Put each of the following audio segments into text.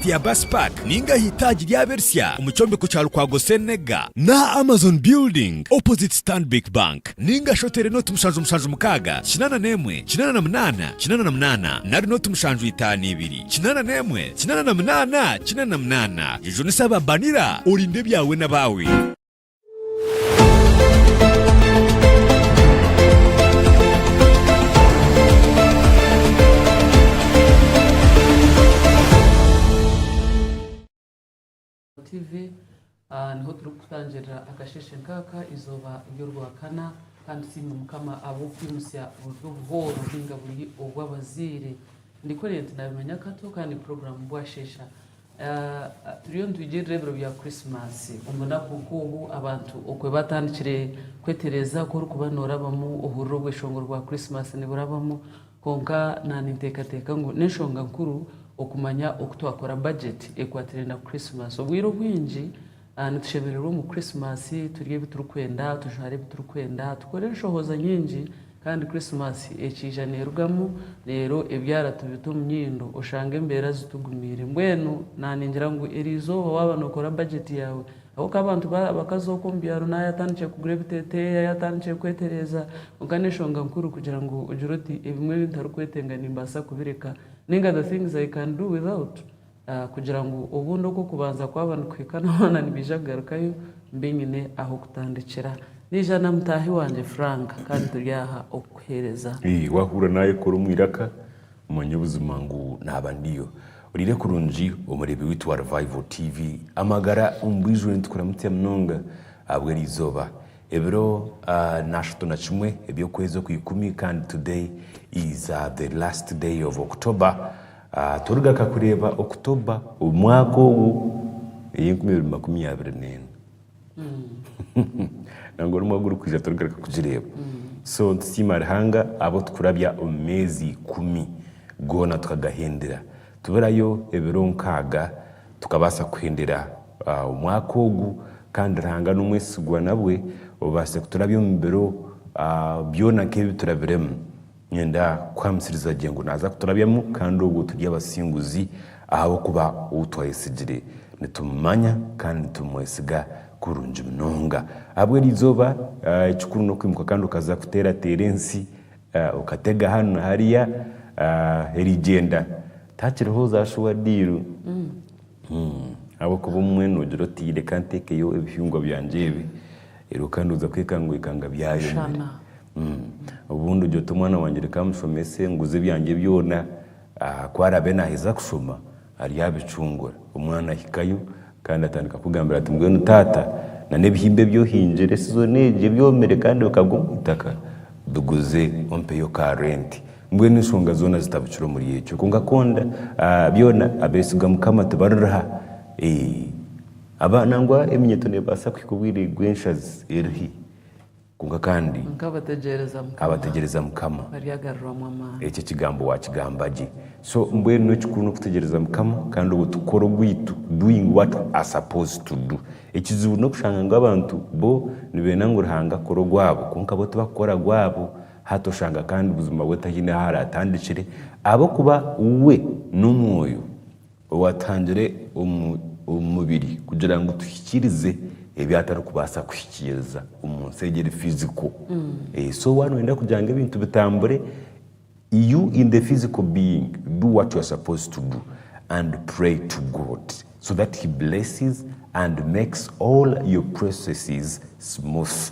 Tiabas Park ninga aha itaagi ry'Abersya omu kyombeko kya Lukwago Senega, n'aha Amazon Building opposite Stanbic Bank ninga shi oteere nooti mushanju mushanju mukaaga kinaana n'emwe kinaana na munaana kinaana na munaana nari nooti mushanju itaano ibiri kinaana n'emwe kinaana na munaana kinaana na munaana. Jujunisa aba Banira orinde ebyawe n'abaawe. niho turikutangirira akasheshe nk'aka izooba ry'orwakana kandi tusiime mukama ahabw'okwimutsya buri obuhooro ninga buri obw'abazaire ndikoree nti nabimanya kato kandi puroguramu bwasheesha Turiyo nitwigirira ebiro bya Krisimaasi omu bunaku nk'obu abantu okwe baatandikire kwetereeza ku orikuba noorabamu ohurira obweshongoro bwa Krisimaasi niburabamu. Kwonka naaninteekateeka ngu n'enshonga nkuru okumanya oku twakora bajeti ekwatiraine na Krisimaasi. Obwire obwingi Nitushemererwa omu Krisimasi, turye ebi turikwenda, tujware ebi turikwenda, tukore enshohoza nyingi, kandi Krisimasi ekiija neerugamu, reero ebyara tubita omu nyindo, oshange embeera zitugumiire. Mbwenu naaningira ngu eri izooba waaba nookora bajeti yaawe, ahabw'okuba abantu abakaza okwo omu byaro naaba yatandikire kugura ebiteeteeyi, yaaba yatandikire kwetereeza, kwonka n'enshonga nkuru kugira ngu ogire oti ebimwe ebi ntarikwetenga nimbaasa kubireka, nainga the things I can do without, kugira ngu obundi oku okubanza kwaba nikuhikana hoona nibaija kugarukayo mbe nyine ah'okutandikira. Naija na mutaahi wangye Frank kandi turi aha okukuheereza. Ee, waahurira naayekora omu iraka, manya obuzima ngu naaba ndiyo. Oriire kurungi, omureebi waitu wa Revival TV. Amagara omu bwijo nitukuramutsa munonga ahabw'eri izooba. Ebiro naashatu na kimwe eby'okwezi okw'ikumi kandi today is the last day of October. Tworigaka kureeba October omwaka ogu ey'enkumi ibiri makumi abiri n'ena. Nangwa n'omwaka gurikwija turigaruka kugireeba. So nitusiima Ruhanga abu turikurabya omu meezi ikumi goona tukagahindira. Tuburayo ebiro nkaaga tukabaasa kuhindira omwaka ogu kandi Ruhanga n'omwesigwa nabwe obaase kuturabya omu biro byona nk'ebi turabiremu. Niinyenda kukuhamisiriza gye ngu naaza kuturabyamu kandi obwo turi abasinguzi ahabw'okuba ou twayetsigire nitumumanya kandi nitumwesiga kurungi munonga. Ahabw'eryo eizooba, ekikuru n'okwimuka kandi okaza kuteerateera ensi, okatega hanu na hariya, erigyenda takiriho ozaashuha diiru. Ahabw'okuba omwe noogira oti, Reka nteekeyo ebihingwa byangye ebi, reero kandi oza kwekanga ngu ekanga byayomire. Obundi ogira oti, Omwana wangye reka amushomese, nguze ebyangye byona, ku araabe naaheza kushoma ariyo abicungura. Omwana ahikayo kandi atandika kukugambira ati, Mbwenu taata, n'ebihimba ebi ohingire sizoni egi ebyomire kandi bikagwa omu itaka, biguze ompeyo ka renti. Mbwenu enshonga zoona zitabukire omuri ekyo. Kwonka konda byona abeesiga Mukama tibaririha. Eeh! Nangwa eminyeeto neebaasa kuhika obwire bw'enshazi eri hi, kwonka kandi abategyereza Mukama ekyo ekigambo waakigamba gye. So mbwenu ekikuru n'okutegyereza Mukama kandi obwo tukora ogwaitu, doing what we are supposed to do. Ekizibu n'okushanga ngu abantu bo nibeenda ngu Ruhanga akore ogwabo kwonka bo tibakukora gwabo. Hati oshanga kandi buzima bwe tahaine ahu araatandikire ahabw'okuba we n'Omwoyo owaatuhangire omu omu mubiri kugira ngu tuhikiirize ebi atarikubaasa kuhikiiriza omu nsi egi eri fiziko. So waaba nooyenda kugira ngu ebintu bitambure, you in the physical being do what you are supposed to do and pray to God so that he blesses and makes all your processes smooth.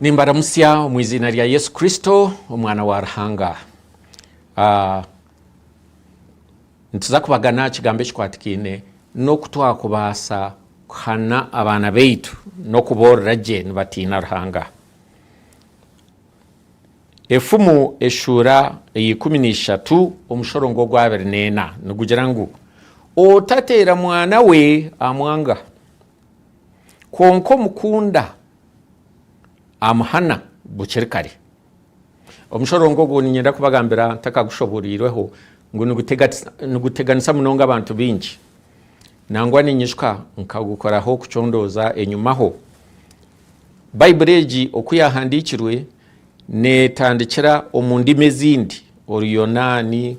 Nimbaramutsya omu iziina rya Yesu Kristo, Omwana wa Ruhanga. Ah, nituza kubagana aha kigambo ekikwatikaine n'oku twakubaasa kuhana abaana baitu n'okuboorora gye nibatiina Ruhanga. Efumu eshuura eyeikumi neishatu omushorongo ogwa abiri neena nigugira ngu otateera mwana we amwanga, kwonka omukunda amuhana bukiri kare. Omushororongo ogwo niinyenda kubagambira ntakagushoboriirweho ngu niguteganisa munonga abantu baingi. Nangwa niinyijuka nkagukoraho kucondooza enyumaho. Baibuli egi oku yaahandiikirwe neetandikira omu ndimi ezindi, Oruyonaani,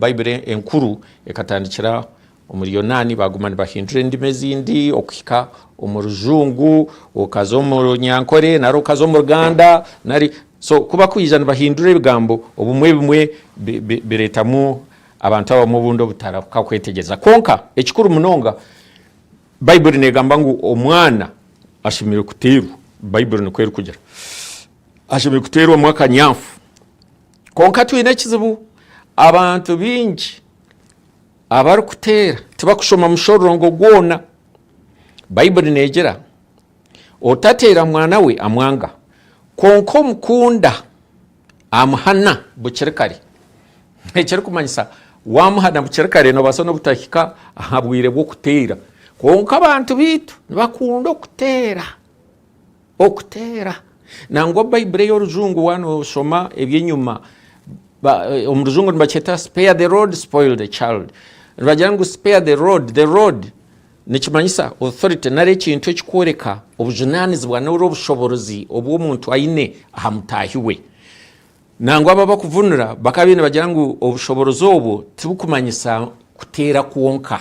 Baibuli Enkuru ekatandikira Omu Ruyonaani baaguma nibahindura endimi ezindi okuhika omu Rujungu, okaza omu Runyankore nari okaza omu Ruganda nari so ku bakwija nibahindura ebigambo obumwe bimwe bireetamu abantu abamwe obundi obutarahuka kwetegyereza. Kwonka ekikuru munonga, Baibuli neegamba ngu omwana ashemereire kuteerwa, Baibuli nikwo erikugira, ashemereire kuteerwamu akanyafu. Kwonka twine ekizibu, abantu baingi. Abarikuteera tibakushoma mushororongo gwona. Baibuli negira, Otateera mwana we amwanga, kwonka omukunda amuhana bukiri kare. Ekirikumanyisa, wamuhana bukiri kare nobaasa n'obutahika aha bwire bw'okuteera. Kwonka abantu baitu nibakunda okuteera. Okuteera. Nangwa Baibuli ey'Orujungu waaba nooshoma eby'enyima, omu Rujungu nibakyeta spare the rod, spoil the child. Nibagira ngu spare the rod, the rod nikimanyisa authority nari ekintu ekikworeka obujunaanizibwa nari obushoborozi obu omuntu aine aha mutaahi we. Nangwa abo abakuvunura bakaba baine bagira ngu obushoborozi obwo tibukumanyisa kuteera kwonka.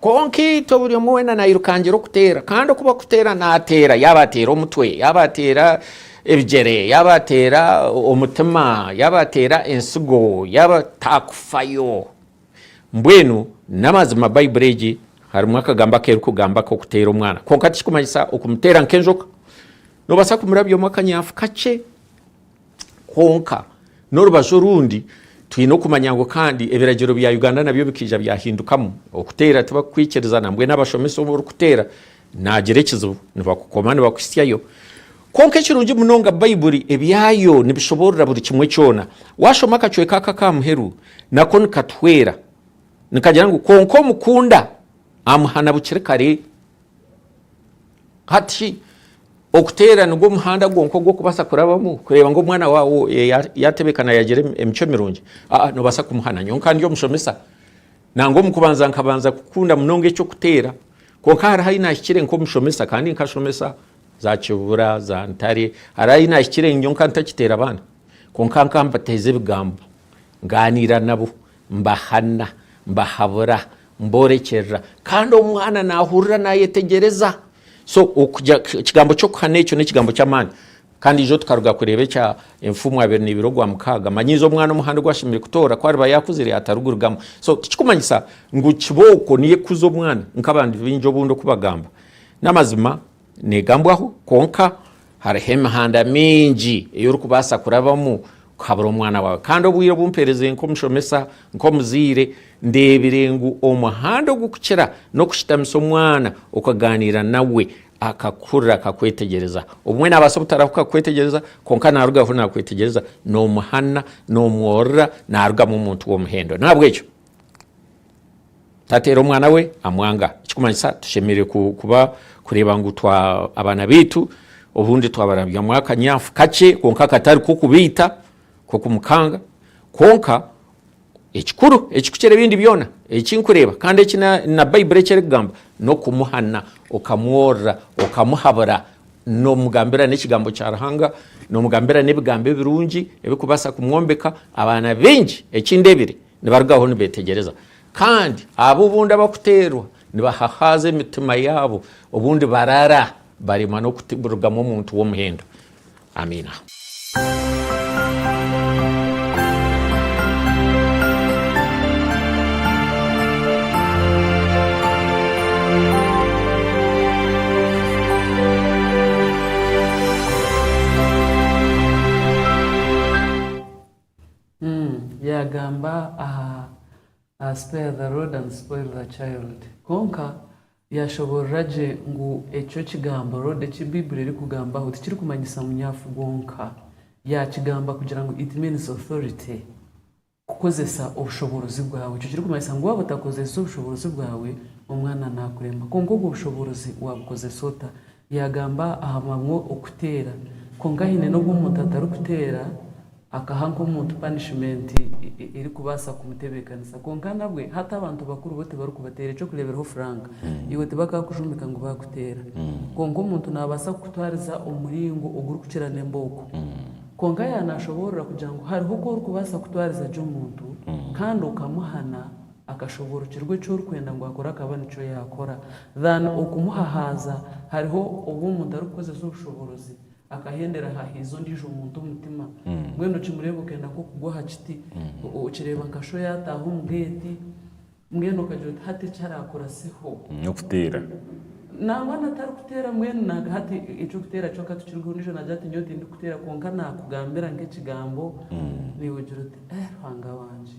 Kwonka itwe buri omwe weena nairukangira okuteera kandi oku barikuteera naateera yaaba ateera omutwe yaaba ateera ebigyere yaaba ateera omutima yaaba ateera entsigo yaaba taakufayo. Mbwenu n'amazima Baibuli egi harimu akagambo aku erikugamba ak'okuteera omwana kwonka tikirikumanyisa okumuteera nk'enjoka. Noobaasa kumurabyamu akanyafu kakye Kwonka, n'orubaju orundi, twine okumanya ngu kandi ebiragiro bya Uganda nabyo bikaija byahindukamu. Okuteera tibakukwikirizana, mbwenu abashomesa obu orikuteera naagira ekizibu nibakukoma nibakuhitsyayo. Kwonka ekirungi munonga Baibuli ebyayo nibishoboorora buri kimwe kyona. Waashoma akacweka aka ak'aha muheru nako nikatuhwera. Nikagira ngu, Kwonka omukunda amuhana bukiri kare. Hati shi okuteera nigwo muhanda gwonka ogu orikubaasa kurabamu kureeba ngu omwana waawe yaatebeekana yaagira emicwe mirungi? Aa, noobaasa kumuhana. Nyowe nka ndi omushomesa, nangwa omu kubanza nkabanza kukunda munonga eky'okuteera. Kwonka hariho ahi naahikire nk'omushomesa, kandi nkashomesa za kibura, za ntare, hariho ahi naahikire nyowe nkaba ntakiteera baana. Kwonka nkaba mbateeza ebigambo, ngaaniira nabo, mbahana, mbahabura, Mborekyerera. Kandi omwana naahurira naayetegyereza. So, okugira, ekigambo ky'okuhana ekyo n'ekigambo ky'amaani. Kandi ijo tukaruga kureeba ekya enfumu abiri neibiri ogwa mukaaga. Manyiiza omwana omuhanda ogu ashemereire kutoora ku ariba yaakuzire atarigurugamu. So, tikikumanyisa ngu kibooko niyo ekuza omwana, nk'abandi baingi obundi oku bagamba. N'amazima. Negambwaho, kwonka hariho emihanda mingi ei orikubaasa kurabamu kuhabura omwana waawe. Kandi obwire obu mpeerezire nk'omushomesa, nk'omuzaire, ndeebire ngu omuhanda ogukukira n'okushutamisa omwana okagaaniira nawe akakuhurira akakwetegyereza. Obumwe naabaasa obutarahuka kukwetegyereza kwonka naarugaho naakwetegyereza, noomuhana, noomworora naarugamu omuntu w'omuhendo. Nahabwekyo Tateera omwana we amwanga. Ekikumanyisa tushemereire kuba kureeba ngu abaana baitu obundi twabarabyamu akanyafu kakye kwonka katari kokubaita, kokumukanga kwonka ekikuru ekikukira ebindi byona ekinkureeba kandi eki na Baiburi eki erikugamba nokumuhana okamworora, okamuhabura nomugambira nekigambo kya Ruhanga, nomugambira nebigambo ebirungi ebirikubaasa kumwombeka. Abaana baingi eki ndebire Nibarugaho nibeetegyereza, kandi abo obu ndaba kuteerwa nibahahaaza emitima yaabo, obu ndibarara baremwa n'okurugamu omuntu w'omuhendo. Amiina. Yaagamba aha Spare the Rod and Spoil the Child. Kwonka yaashoboorora gye ngu ekyo ekigambo rod eki Baibuli erikugambaho tikirikumanyisa munyafu gwonka. Yaakigamba kugira ngu it means authority, kukozesa obushoboorozi bwawe. Ekyo kirikumanyisa ngu waaba otakozeesize obushoboorozi bwawe, omwana naakurema. Kwonka obwo bushoboorozi waabukozesa ota? Yaagamba aha mabwa okuteera, kwonka haine n'obu omuntu atarikuteera akaha nk'omuntu panishimenti erikubaasa kumutebeekanisa. Kwonka nabwe, hati abantu bakuru bo tibarikubateera. Eky'okureeberaho Frank, iwe tibakaakujumbika ngu baakuteera. Kwonka omuntu naabaasa kukutwariza omu muringo ogurikukira n'embooko. Kwonka yaaba naashoboorora kugira ngu hariho oku orikubaasa kutwariza gye omuntu kandi okamuhana, akashoborokirwa eki orikwenda ngu akore akaba nikyo yaakora than okumuhahaaza, hariho obu omuntu arikukozesa obushoborozi akahendera ahahiize ondiijo muntu omutima, mbwenu okimureeba okenda nk'okugwa aha kiti, okireeba nka sho yaataaha omu geeti, mbwenu okagira oti hati eki araakuraseho. N'okuteera. Nangwa na tarikuteera mbwenu na hati eky'okuteera kyo ka tukirigeho ondiijo naagira ati nyowe tindikuteera kwonka naakugambira nk'ekigambo, naiwe ogira oti. Eh Ruhanga wangye,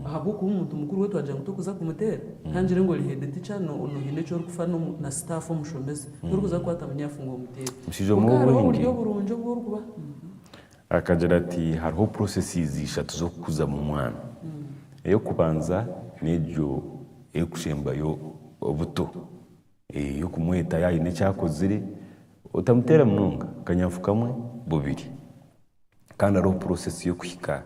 ahabw'okuba omuntu mukuru we twagira ngu torikuza kumuteera? Kangire ngu ori head teacher noohine eki orikufa na staff omushomesa, torikuza kukwata munyafu ngu omuteere. Omushaija omwe Kwonka hariho ow'obwengye oburyo burungi obu orikuba. Akagira ati, Hariho processes ishatu z'okukuzamu omwana. Ey'okubanza n'egyo erikusembayo obuto, ey'okumweta yaaba haine eki akozire, otamuteera munonga, akanyafu kamwe, bubiri. Kandi hariho purosesi y'okuhika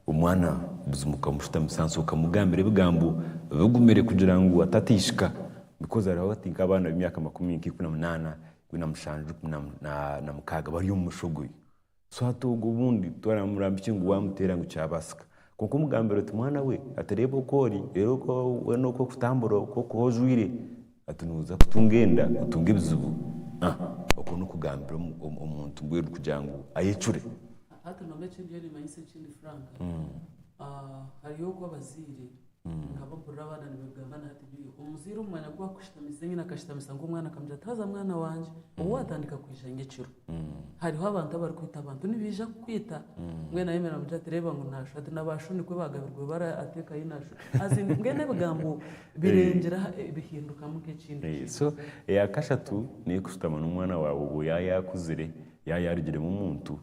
omwana buzima okamushutamisa ahansi okamugambira ebigambo bigumire kugira ngu atateishika bikozi hariho hati nk'abaana b'emyaka makumi nk'ikumi na munaana, ikumi na mushanju, ikumi na mukaaga bari omu mushogo oyo. So hati ogwo obundi twamugamba ki ngu waamuteera ngu kyabaasika? Kwonka omugambira oti mwana we, hati reeba oku ori, reeba weena oku orikutambura, oku orikuba ojwaire. Ati, Nooza kutunga enda, otunga ebizibu? Ah, okwo n'okugambira omuntu mbwenu kugira ngu ayecure. Hati nabwo eki ndiyo nimanyisa ekindi Frank, hariyo oku abazaire nka bakurira abaana nibabigamba na hati biri. Omuzaire omu mwanya ku akushitamisa enyine akashitamisa nk'omwana akamugira ati, Haza mwana wangye, obu waatandika kwija nyekiro, hariho abantu abarikwita abantu nibaija kukwita. Mbwenu ayemera amugira ati, Reeba ngu naashusha. Ati, Nabaashu nikwo baagabirwe bara ateekayo naashusha. As in, mbwenu ebigambo Birengyera aha bihindukamu nk'ekindi kintu. So eya kashatu neyo kushutama n'omwana wawe obwo ya yakuzire ya yarugiremu omuntu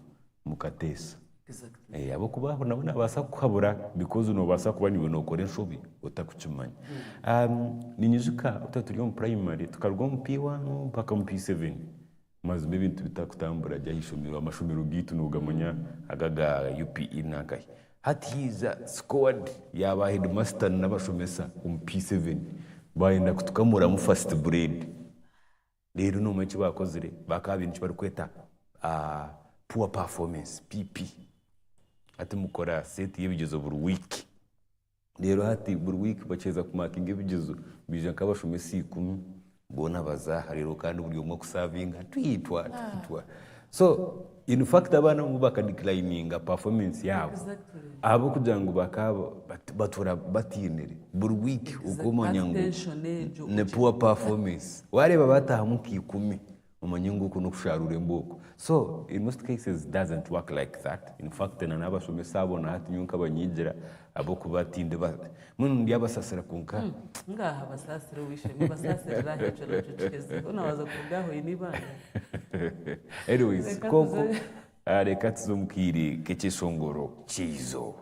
mukateesa. Exactly. Eh, ahabw'okuba aho nabwo nabaasa kukuhabura because nobaasa kuba niwe nokora enshobi otakukimanya. Um, ninyijuka twaturi omu primary tukaruga omu P1 mpaka omu P7 Mazima ebintu bitarikutambura gya aha ishomero, amashomero gaitu nogamanya aga aga UPE nankahi? Hati haija squad ya ba headmaster na abashomesa omu P7 bayenda kutukamuramu first grade reero nomanya eki bakozire bakaba baine eki barikweta poor performance, PP. Hati mukora set yebigyezo buri week. Reero hati buri wiiki bakiheeza kumaakinga ebigizo, baija nk'abashomesa ikumi, boona baza aha reero kandi buri omwe kusaavinga twitwa twitwa. So in fact abaana abamwe baka declininga performance yaabo Exactly. ahabw'okugira ngu bakaba bat- batuura batainire buri wiiki okumanya ngu Attention egyo. ni poor performance. Waareeba baataahamu nka ikumi Omanye ngu oku nokusharura embooko. So in most cases doesn't work like that in fact na nabashomesa abo na hati nyowe nkabanyigira ahabwokuba tindi ba mbwenu ndi abasasira kwonka Ngaaha basaasira ow'eishe-emwe basaasirira aha ekyo nakyo kiheze. Hoona waaza kuruga aha oine eibaare. Anyways Reka kwonka tuze- ah, reka tuze omu kaire k'ekyeshongoro ky'eizooba.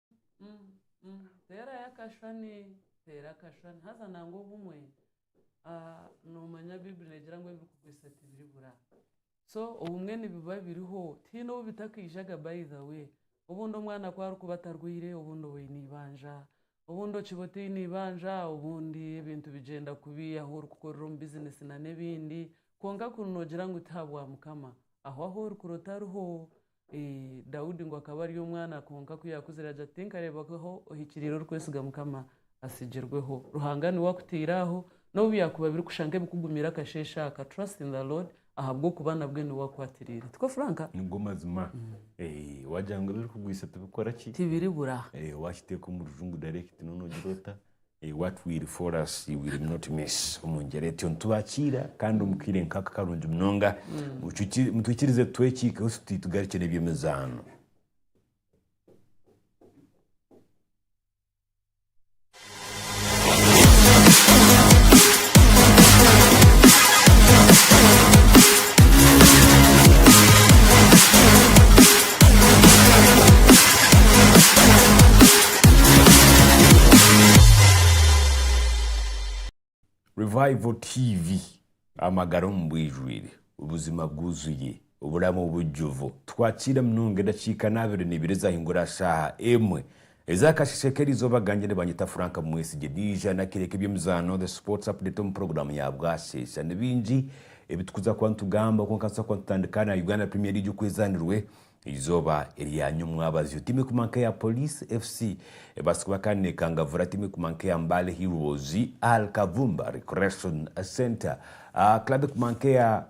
Teerayo akashushani, teera akashushani haza nangwa obumwe noomanya baiburi neegira ngu ebirikukwitsa tibiribura. So obumwe nibiba biriho tihaine ou bitakaijaga by the way. Obundi omwana ku arikuba atarwaire obundi oba oine eibanja, obundi okiba otaine eibanja obundi ebintu bigyenda kubi ahu orikukorera omu bizinesi na n'ebindi. Kwonka kunu noogira ngu tihabwa Mukama, aho ahu orikurota ariho. Daudi ngu akaba ari omwana kwonka ku yaakuzire agira ati tinkareebwaho ohikiriire orikwesiga Mukama asigirweho. Ruhanga niwe akutaire aho n'obu byakuba birikusha nk'ebikugumire akasheeshe aka trust in the Lord ahabw'okuba nabwe niwe akwatiriire. Tikwo Frank? Nigo mazima. Waagira ngu ebirikugwisa tibikora ki? Tibiribura. Waakiteeka omu rujungu direct noogira ota? What will befall us will not miss omu ngyera etyo nitubakiira kandi omu kaire nk'aka karungi munonga. Mutwikirize tutwekiikeho tuti tugarukye n'eby'emizaano. Revival TV amagara omu bwijwire, obuzima bwuzuye, oburamu bujjuvu. Twakiira munonga edakiika n'abiri nibiri ezahingura shaaha emwe Eza kasheeshe k'eri izooba gangye nibanyeta Frank Mumwesigye. Naija nakireeka eby'emizaano, the sports update, omu puroguraamu ya bwasheesha. Ni bingi ebi tukuza kuba nitugamba kwonka nituza kuba nitutandika na Uganda Premier League oku ezaanirwe eizooba erya nyomwabazyo. Tiimu ekuguma nk'eya Police FC ebaasa kuba kandi neekangavura tiimu ekuguma nk'eya Mbale Heroes, Al Kavumba Recreation Centre. Club ekuguma nk'eya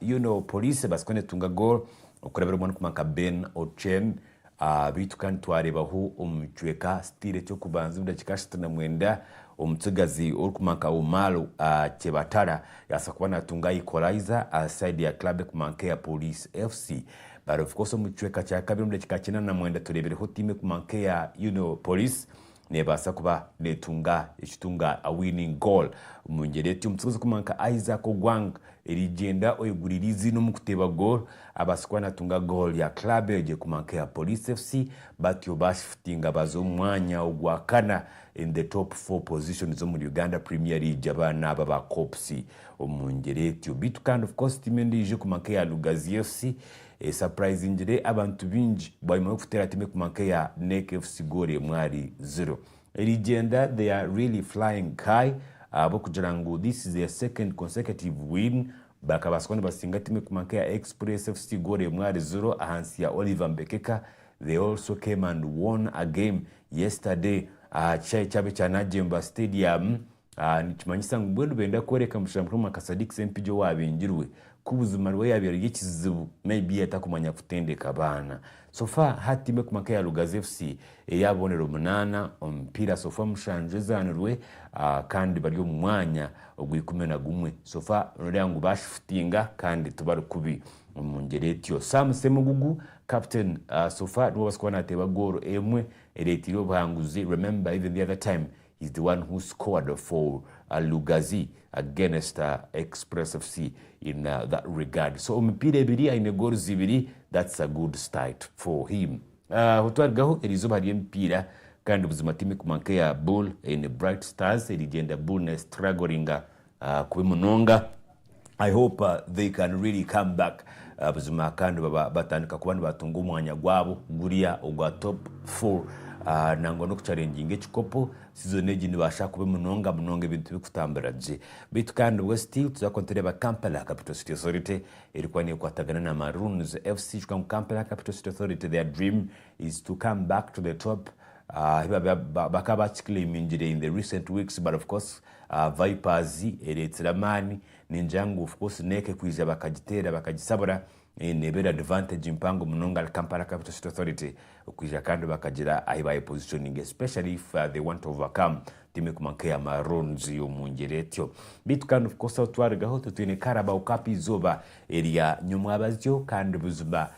Police ebaasa kuba neetunga goal okurabirwamu arikuguma nka Ben Ochen. A Beitu kandi twareebaho omu micweka sitira eky'okubanza omu dakiika ashatu na mwenda omutsigazi orikuma nka Umar a Kyebatara yabasa kuba natunga a equalizer a side ya club ekuma nka eya Police FC. But of course omu kicweka kya kabiri omu dakiika kyenda na mwenda tureebireho tiimu ekuma nka eya Union Police Neebaasa kuba neetunga ekitunga a winning goal. Omu ngyera eti, omutsigazi w'okuhikoma nka Isaac Ogwang erigyenda oyeguriire eiziina omu kuteeba goolo, abaasa kuba naatunga goolo ya club egye kuhikoma nk'eya Police FC, batyo baashifutinga baaza omu mwanya ogwakana in the top four positions omuri Uganda Premier League abaana aba ba Corps omu ngyera etyo. Beitu kandi of course tiimu endiijo kuhikoma nk'eya Lugazi FC Esapurayizingire abantu baingi bwanyima y'okuteera tiimu ekuguma nk'eya NEC FC goolo emwe ahari ziro. Erigyenda they are really flying high ahabw'okugira ngu this is their second consecutive win, bakabaasa kuba nibasinga tiimu ekuguma nk'eya Express FC goolo emwe ahari ziro ahansi ya Oliver Mbekeka, they also came and won a game yesterday aha kishaayi kyabo ekya Najemba Stadium. Aha nikimanyisa ngu mbwenu benda kworeka mushana mukuru Mwaka Sadiq Sempigi owabingirwe ku buzima niwe yabaire ari ekizibu maybe yatakumanya kutendeka abaana. So far ha tiimu ekuma nka eya Lugazi FC eri aha bubonero munaana omu mipiira so far mushanju ezaanirwe kandi bari omu mwanya ogwa ikumi na gumwe. So far nooreeba ngu baashifutinga kandi tibari kubi omu ngyera etyo. Sam Semugugu, captain, so far niwe obaasa kuba naateeba goolo emwe ereeteire obuhanguzi. Remember even the other time He's the one who scored for Lugazi against Express FC in that regard. So emipiira ebiri aine goals ibiri that's a good start for him. Aho twarugaho eri izooba hariyo emipiira kandi buzima tiimu ekuguma nk'eya Bull eine Bright Stars erigyenda Bull nestrugglinga Ah kubi munonga. I hope they can really come back buzima kandi baba batandika kuba nibatunga omwanya gwabo gurya ogwa top four nangwa nokucarenginga ekikopo season egi nibasha kubi munonga munonga ebintu bikutamburira gye beitu kandi nibwe still tuza kuba nitureba Kampala capital city authority erikuba nekwatagana na maroons FC kwonka ngu Kampala capital city authority their dream is to come back to the top ahi bakaba bakiclaimingire in the recent weeks but of course Aha Vipers ereetsire amaani, ningira ngu of course Neke kwija bakagiteera bakagisabura, neeba eri advantage mpango munonga ahari Kampala Capital City Authority kwija kandi bakagira ahi bayepositioninga especially if they want to overcome tiimu ekuguma nk'eya Maroons omu ngyera etyo. Beitu kandi of course ahu twarugaho titwine Carabao Cup eizooba erya nyomwabazyo kandi buzima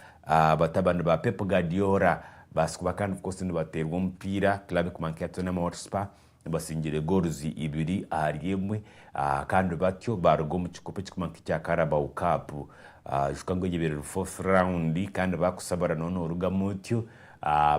batabani ba Pep Guardiola babaasa kuba kandi of course nibateerwa omupiira club ekuguma nk'eya Tottenham Hotspur Basingire gooluzi ibiri ahari emwe kandi batyo baaruga omu kikopo ekirikumanywa nk'ekya Carabao Cup kyonka ngu eyebeire eri fourth round kandi baakushabura noona orugamu otyo.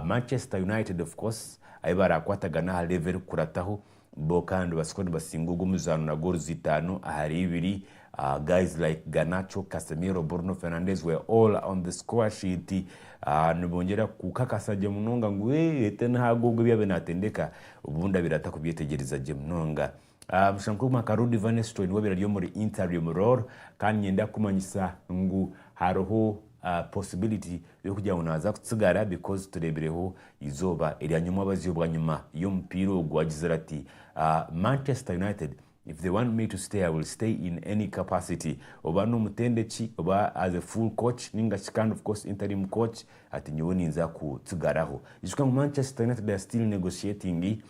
Manchester United of course ahi baraakwatagana aha level erikukurataho bo kandi batsiko nibasinga ogwo omuzaano na gooluzi itaano ahari ibiri Aah guys like Garnacho, Casemiro, Bruno Fernandes were all on the score sheet aah nibongyera kukakasa gye munonga ngu eeh Tenhag ogwo ebi abe natendeka obu ndabirata kubyetegyereza gye munonga. Aah bushwa nkuguma nka Rudy van Nistelrooy niwe abire ari omuri interim role kandi ninyenda kukumanyisa ngu hariho aah possibility y'okugira ngu naza kutsigara because turebireho eizooba erya nyomwabazi obwanyima y'omupiira ogu agizire ati aah Manchester United If they want me to stay I will stay in any capacity oba n'omutendeki oba as a full coach ninga shi kandi of course interim coach ati nyowe ninza kutsigaraho. Ijuka ngu Manchester United are still negotiating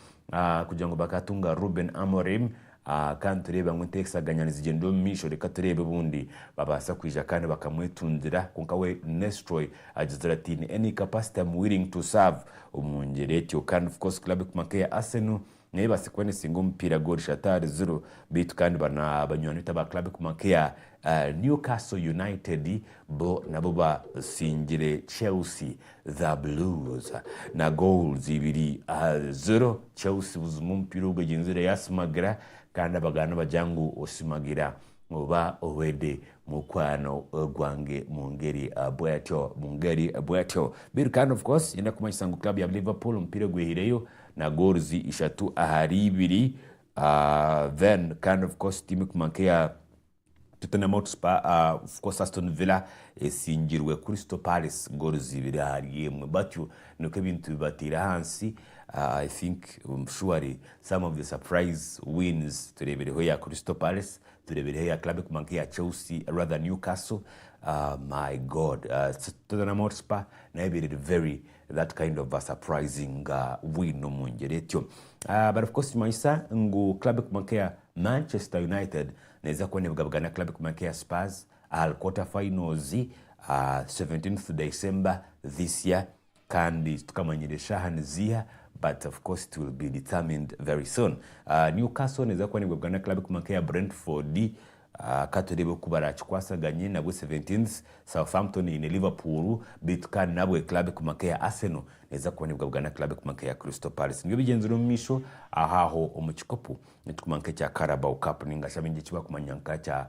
kugira ngu bakatunga Ruben Amorim kandi tureeba ngu enteesaganya nizigyendera omu maisho reka tureebe obundi babaasa kwija kandi bakamwetundira kwonka we Nestroy agizire ati in any capacity am willing to serve omu ngyera etyo kandi of course club ekuma nk'eya Arsenal Nebasa kuba nesinga omupiira gwa Orishattar Zulu beitu kandi bana banywani beitu aba club ekoma nkeya Newcastle United bo nabo basingire Chelsea the Blues na goals ibiri aha zero. Chelsea buzima omupiira ogu egyenzire yasimagira kandi abaganda bagira ngu osimagira oba owede mukwano gwange mungeri bwetyo mungeri bwetyo. Beitu kandi of course nyenda kumanyisa ngu club ya Liverpool omupiira gwehireyo na goals ishatu ahari ibiri then kandi of course team ekuma nkeya Tottenham Hotspur of course Aston Villa esingirwe Crystal Palace goals ibiri ahari emwe batyo nikwo ebintu bibateire ahansi I think surely some of the surprise wins tureebireho eya Crystal Palace tureebireho eya club ekuma nkeya Chelsea rather Newcastle my God Tottenham Hotspur nayo ebaire eri very That kind of a surprising nga bwine omungyera etyo bari of course kimanyisa ngu club ekuma nkeya Manchester United neza kuba nebugabugana na club ekuma nkeya Spurs ahari quarter finals ah 17th December this year kandi titukamanyire shaha niziiha but of course it will be determined very soon. Newcastle neza kuba nebugabugana na club ekuma nkeya Brentford Ka tureebe oku baraakikwasaganye nabwo Seventeenths. Southampton eine Liverpool, beitu kandi nabwo club ekuguma nk'eya Arsenal neeza kuba neebwabwana club ekuguma nk'eya Crystal Palace. Nibyo bigyenzire omu maisho ahaaho omu kikopo ekiguma nk'ekya Carabao Cup nainga shi abaingi eki barikumanya nka kya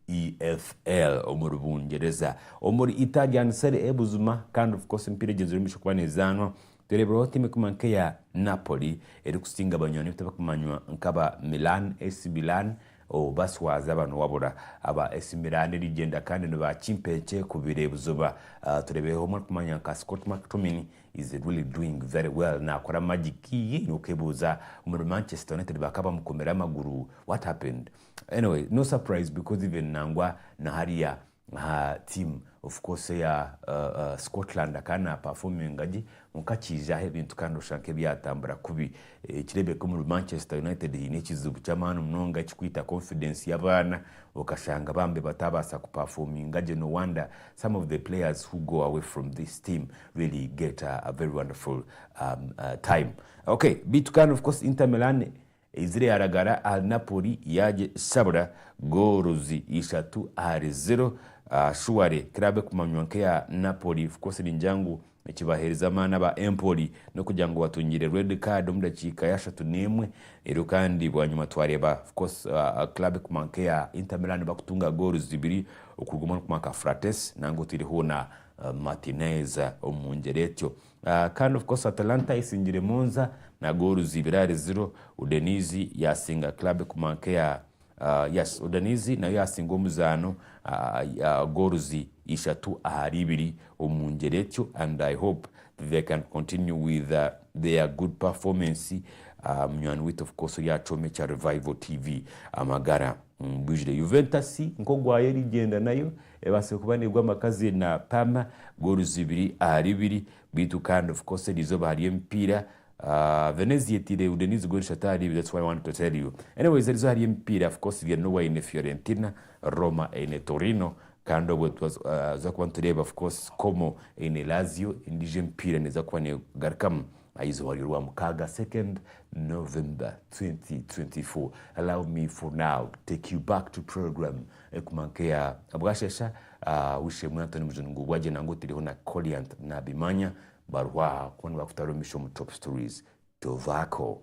EFL omuri Bungyereza. Omuri Italian Serie A buzima kandi of course emipiira egyenzire omu maisho kuba neezaanwa. Tureebireho tiimu ekuma nk'eya Napoli erikusinga abanywani beitu abakumanywa nk'aba Milan AC Milan ou baswaza aba niwabura. Aba AC Milan erigyenda kandi ni ba kimpeekye kubiire buzoba. Tureebireho omwe arikumanywa nka Scott McTomin is really doing very well naakora magic. Yii n'okwebuuza omuri Manchester United baaka bamukomire amaguru what happened? Anyway no surprise because even nangwa na hariya aha team of course eya Scotland akaba na performinga gye kwonka kiija aha ebintu kandi oshusha nk'ebyatambura kubi nikireebeka omuri Manchester United haine ekizibu ky'amaani munonga ekirikwita confidence y'abaana okashanga bambi bataabaasa ku performinga gye no wonder some of the players who go away from this team really get a very wonderful time ok beitu kandi of course Inter Milan Eizire yaaragara ahari Napoli yaagishabura goolo zi ishatu ahari ziro. Shuware kiraabe ekumanywa nk'eya Napoli Fukose ningira ngu ekibaheerize amaani aba Empoli n'okugira ngu batungiire reedi kaadi omu dakiika y'ashatu n'emwe reero kandi bwanyima twareeba Fukose kiraabe ekumanywa nk'eya Inter Milan bakutunga goolo zibiri okuruga omuri Marc Frates nangwa otiire hoona Martinez omu ngyera etyo. Kandi of course Atalanta isingire Monza na goolu zibiri ahari ziro. Udenizi yasinga club kuma nkeya yes Udenizi nayo yasinga omuzaano goolu zi ishatu ahari ibiri omungyeri etyo and I hope they can continue with their good performance. Munywani waitu of course oryacoma ekya Revival TV amagara mbwijire. Juventus nkogwayo erigyenda nayo Ebaase kuba neegwa amakazi na pam goals ibiri ahari ibiri beitu kandi of course eryo izooba hariyo emipiira aah Venezia etiire Udenize goal ishatu ahari ibiri that's why I want to tell you. Anyways eriizooba hariyo emipiira of course Genoa eine Fiorentina, Roma eine Torino kandi obwe twaza kuba nitureeba of course Como eine Lazio endiijo emipiira neeza kuba neegarukamu aha izooba ry'orwamukaaga second November twenty twenty four. Allow me for now take you back to programme. Ekuma nkeya bwashesha aah wishemu Anthony Mujuni ngu bwagye nangu otireho na Colliant nabimanya baruho aha kuba nibakutara omumisho omu Top Stories tovako.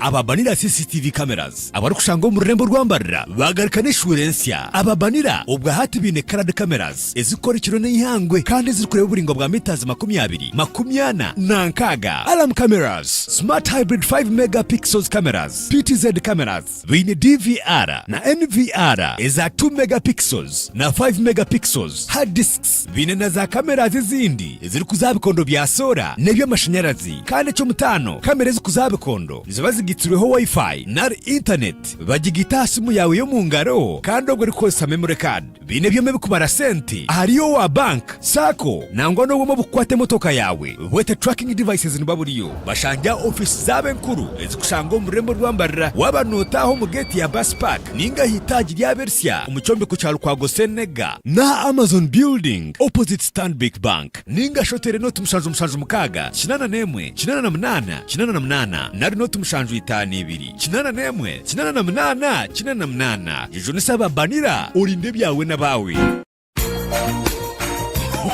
Ababanira CCTV cameras abarikushangwa omu rurembo rwa Mbarira baagaruka n'eshuura ensya. Ababanira obwa hati baine coloured cameras ezirikukora ekiro n'eihangwe kandi ezirikureeba oburaingwa bwa metres makumi abiri, makumi ana na nkaaga. Alarm cameras, smart hybrid 5 megapixels cameras, PTZ cameras, Baine DVR na NVR eza two megapixels na five megapixels, hard disks, baine na za cameras ezindi ezirikuza aha bikondo bya soora n'eby'amashanyarazi kandi eky'omutaano kamera ezikuza aha bikondo niziba zigaitsirweho Wi-Fi nari Internet, bagigaita aha simu yaawe y'omu ngaro kandi obwo orikukoresa memory card. Baine byoma ebikubara sente ahari owa bank, sacco nangwa n'obwoma obukukwata emotoka yaawe bwete tracking devices niba buriyo. Bashange aha ofiisi zaabo enkuru ezikushangwa omu rurembo rwa Mbarira waaba nootaaha omu geeti ya bus park ninga aha itaagi ry'abersya omu kyombeko kya Lukwago Ssenega, n'aha Amazon building opposite Stanbic Bank ninga shi oteere nooti mushanju mushanju mukaaga kinaana n'emwe kinaana na munaana kinaana na munaana nari nooti mushanju itaano ibiri. Kinaana n'emwe, kinaana na munaana, kinaana na munaana. Jujunisa aba Banira, orinde ebyawe n'abaawe.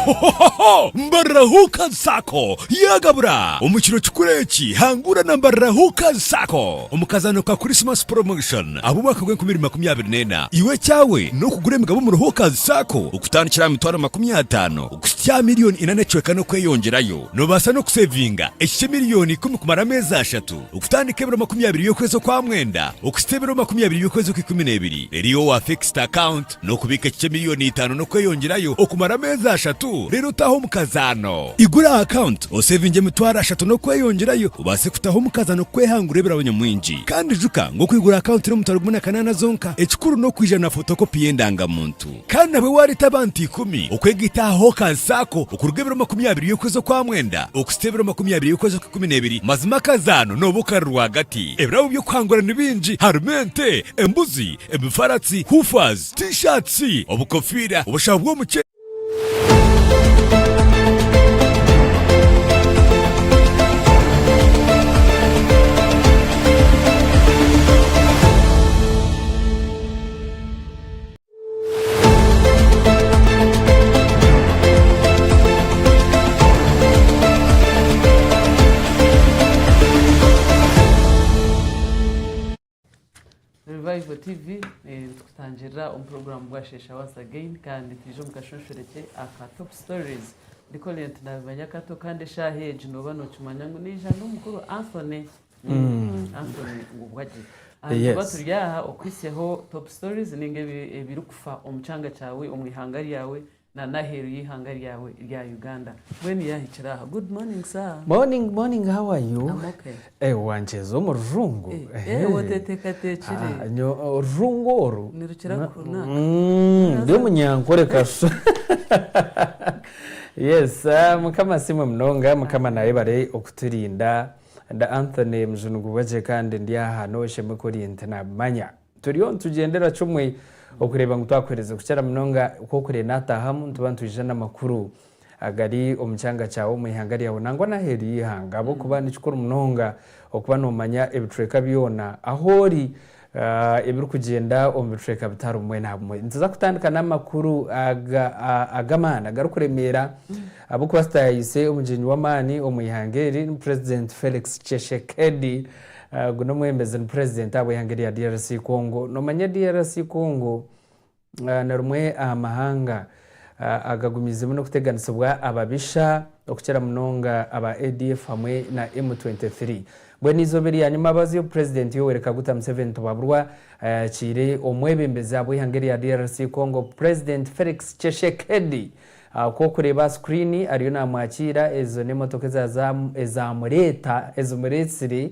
Hohohoho! Mbarira Hookers Sacco yaagabura! Omu kiro kikuru eki, hangura na Mbarira Hookers Sacco omu kazaano ka Christmas Promotion ah'omwaka gw'enkumi ibiri makumi abiri n'ena. Iwe ekyawe n'okugura emigabo omuri Hookers Sacco okutandikira aha mitwaro makumi ataano okuhitsya aha milioni ina n'ekicweka n'okweyongyerayo. Noobaasa n'okuseevinga ekikye milioni ikumi kumara ameezi ashatu. Okutandika ebiro makumi abiri by'okwezi okwa mwenda okuhitsya ebiro makumi abiri by'okwezi okw'ikumi n'ebiri, eriyo owa fixed account n'okubiika ekicwe miliyoni itaano n'okweyongyerayo okumara ameezi ashatu reero otaahe omukazaano. Igura aha account osevinge emitwaro ashatu n'okweyongyerayo obaase kutaho omukazaano kwehangura ebirabo nyamwingi. Kandi ijuka ngu okwigura account n'omutwaro gumwe na kanaana zonka, ekikuru n'okwiija na photocopy y'endangamuntu. Kandi nabwe waareeta abantu ikumi okwega itaaha aha okansi ako okuruga ebiro makumi abiri y'okwezi okwa mwenda okuhitsya ebiro makumi abiri y'okwezi okw'ikumi n'ebiri, mazima akazaano nooba okari rwagati. Ebirabo by'okuhangura ni bingi, harimu ente, embuzi, emifaratsi, hoofahs, T-shirts, obukofiira, obushaho bw'omu. Revival TV eh, nitutangirira omu puroguramu bwa shesha once again kandi twije omu kashweshwereki aka top stories ndikolire nti nabimanya kato kandi eshaaha egi nooba nookimanya ngu niija n'omukuru anthony Antony Ngubwagye. Antony Yes. Tuba turi aha okuhitsyaho top stories ninga ebi- ebirikufa omu kyanga kyawe, omu ihanga ryawe na n'aheeru y'eihanga ryawe rya Uganda. Mbwenu yaahikire aha. Good morning sir. Morning, morning, how are you? I'm okay. Eh, wankyeza omu rujungu. Eh, eh, oteteekateekire. Ah, nyo- orujungu oru. Nirukira Na- kunaaka. Mm, ndi omunyankore kasha. Yes, ah, mukama asiimwe munonga, mukama naayebare okuturinda. Ndi Anthony Muzunugubwa gye kandi ndi aha n'oshemwe ku ori nti nabimanya. Turiyo nitugyendera kimwe okureeba ngu twakuherize kukira munonga ku okure nataahamu nituba nitwija n'amakuru agari omu kyanga kyawe, omu ihanga ryawe nangwa n'aheeru y'eihanga ahabw'okuba ni kikuru munonga okuba nomanya ebicweka byona ahu ori Ebirikugyenda omu bicweka bitaano bumwe na bumwe. Nituza kutandika n'amakuru ag'amaani agarikuremeera ahabw'okuba tutayaayise omugyenyi w'amaani omu ihanga eri ni Purezidenti Felix Tshisekedi. Ogu n'omwebembezi ni Purezidenti ahabw'eihanga erya DRC Congo. Noomanya DRC Congo? Ni rimwe aha mahanga agagumiizemu n'okuteganisibwa ababisha okukira munonga aba ADF hamwe na M23. Mbwenu eizooba eryanyima abaazyo obu Purezidenti Yoweri Kaguta Museveni Tibaburwa ayakiire omwebembezi abw'eihanga erya DRC Congo Purezidenti Felix Tshesekedi Ahabw'okureeba aha sikuriini ariyo naamwakiira, ezo n'emotoka ezaamureeta, ezimureetsire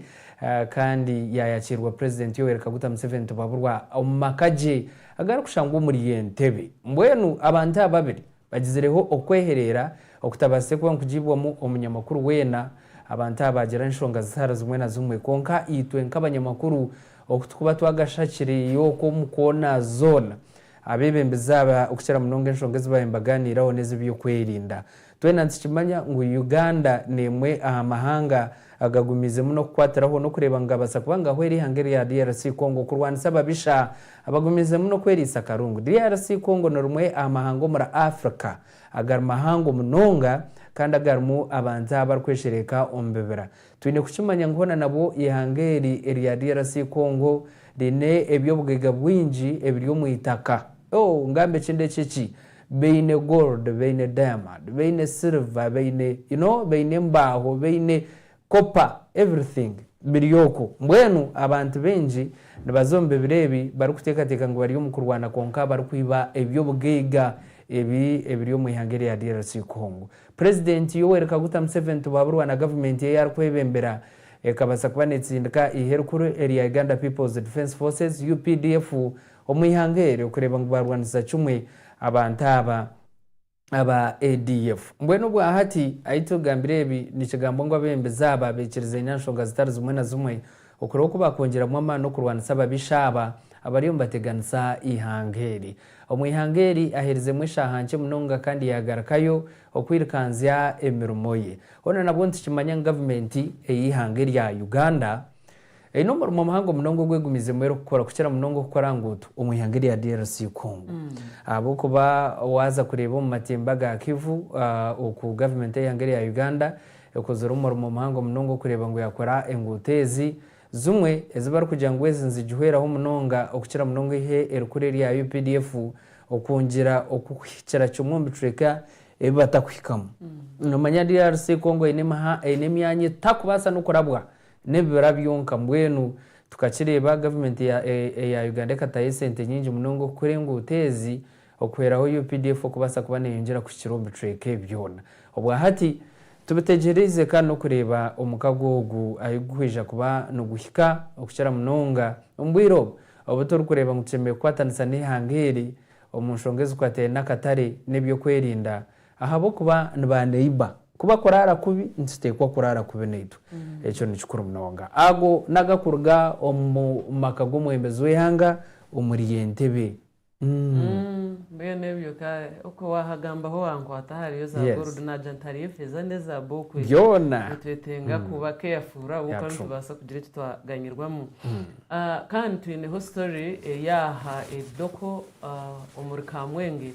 kandi yaayakiirwa Purezidenti Yoweri Kaguta Museveni Tibaburwa omu maka gye agarikushangwa omuri Entebbe. Mbwenu abantu aba babiri bagizireho okwehereera okutabaasize kuba nikugiibwamu omunyamakuru weena. Abantu aba baagira enshonga zitari zimwe na zimwe, kwonka itwe nk'abanyamakuru oku turikuba twagashakire oku omu koona zoona, Abeebembezi aba okukira munonga enshonga ezi baabaire nibagaaniiraho n'ez'eby'okwerinda. Twena nitukimanya ngu Uganda n'emwe aha mahanga agagumiize muno kukwatiraho n'okureeba ngu gaabaasa kuba ngahwera eihanga erya DRC Congo kurwanisa ababisha abagumiize muno kweriisa akarungu. DRC Congo ni rimwe aha mahanga omuri Africa agari mahango munonga kandi agarimu abantu abarikweeshereeka omu bibira. Twine kukimanya ngu hoona nabwo eihanga eri erya DRC Congo riine eby'obugaiga bwingi ebiri omu itaka. Oh, ngambe ekindeki ki? Baine gold, baine diamond, baine silver, baine, you know, baine embaaho, baine copper, everything biri okwo. Mbwenu abantu baingi nibaza omu bibira ebi barikuteekateeka ngu bari omu kurwana kwonka barikwiba eby'obugaiga ebi ebiri omu eihanga erya DRC Congo. Purezidenti Yoweri Kaguta Museveni tibuhaburwa na gavumenti eyi arikwebembera ekabasa kuba netsindika eihe rikuru erya Uganda People's Defence Forces, UPDF, omu ihanga eryo kureeba ngu barwanisiza kimwe abantu aba aba ADF. Mbwenu obwahati ahi tugambira ebi nikigambwa ngu abebembezi aba bekirize nyanshonga zitari zimwe na zimwe Okureeba oku baakwongyeramu amaani okurwanisa ababisha aba abariyo nibateganisa eihanga eri. Omu ihanga eri aheerizemu eshaaha nkye munonga kandi yaagarukayo okwirikanzya emirimo ye. Hoona nabwo nitukimanya ngu gavumenti ey'eihanga erya Uganda eine omurimo muhango munonga ogwegumiizemu erikukora, kukira munonga okukora nguuto omu ihanga erya DRC Congo. Ahabw'okuba waaza kureeba omu matemba ga Kivu oku gavumenti ey'eihanga erya Uganda Ekozire omurimo muhango munonga okureeba ngu yakora enguuto ezi, zimwe ezi barikugira ngu ezi nizigihweraho munonga okukira munonga eihe erikuru erya updf okwongyera okuhikira kimwe omu bicweka ebi batakuhikamu. Nomanya DRC Congo eine emyanya etakubaasa n'okurabwa n'ebibira byonka mbwenu tukakireeba gavumenti eya Uganda ekataho esente nyingi munonga okukora enguuto ezi Okuhweraho updf okubaasa kuba neyongyera kuhikira omu bicweka ebi byona obwa hati, tubitegyeriize kandi n'okureeba omukago ogu ahi gurikwija kuba niguhika, okukira munonga omu bwire obu obu turikureeba ngu tushemereire kukwatanisa n'eihanga eri omu nshonga ezikwataine n'akatare n'eby'okwerinda ahabw'okuba ni ba neiba. Ku bakuraara kubi, nituteekwa kuraara kubi naitwe. Ekyo ni kikuru munonga. Ago ni agakuruga omu maka g'omwebembezi w'eihanga omuri Entebbe. Mbwenu ebyo ka okwe wahagambaho wankwata ahariyo za Yes. gold nagya nti hariyo efeeza n'ezaabu okwe Byona. nitwetenga kuba careful ahabw'okuba Yeah, true. nitubaasa kugira eki twaganyirwamu Ah, kandi twineho story eri aha Ebidoko ah, omuri Kamwenge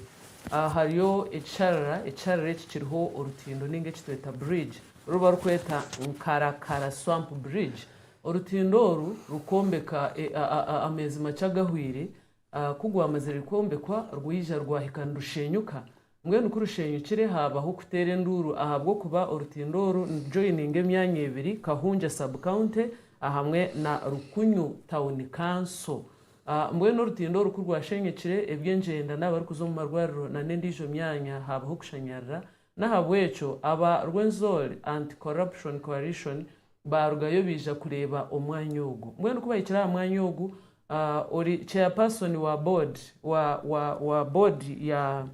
Ah, hariyo ekisharara ekisharara eki kiriho orutindo ninga eki tweta bridge oru barikweta Nkarakara swamp bridge orutindo oru rukwombeka eh, ah, ah, ah, ameezi makye agahweire Ku rwamazire kwombekwa, rwaija rwahika nirushenyuka. Mbwenu ku rushenyukire, haabaho kuteera enduuru ahabw'okuba orutindo oru nirujoyininga emyanya ebiri, Kahungya Sub-County ahamwe na Rukunyu Town Council. Mbwenu orutindo oru ku rwashenyukire, eby'engyenda n'abarikuza omu marwariro nana endiijo myanya haabaho kushanyarira N'ahabw'ekyo aba Rwenzori Anti Corruption Coalition baarugayo baija kureeba omwanya ogu. Mbwenu ku bahikire aha mwanya ogu, ori Chairperson wa Board wa wa wa Board ya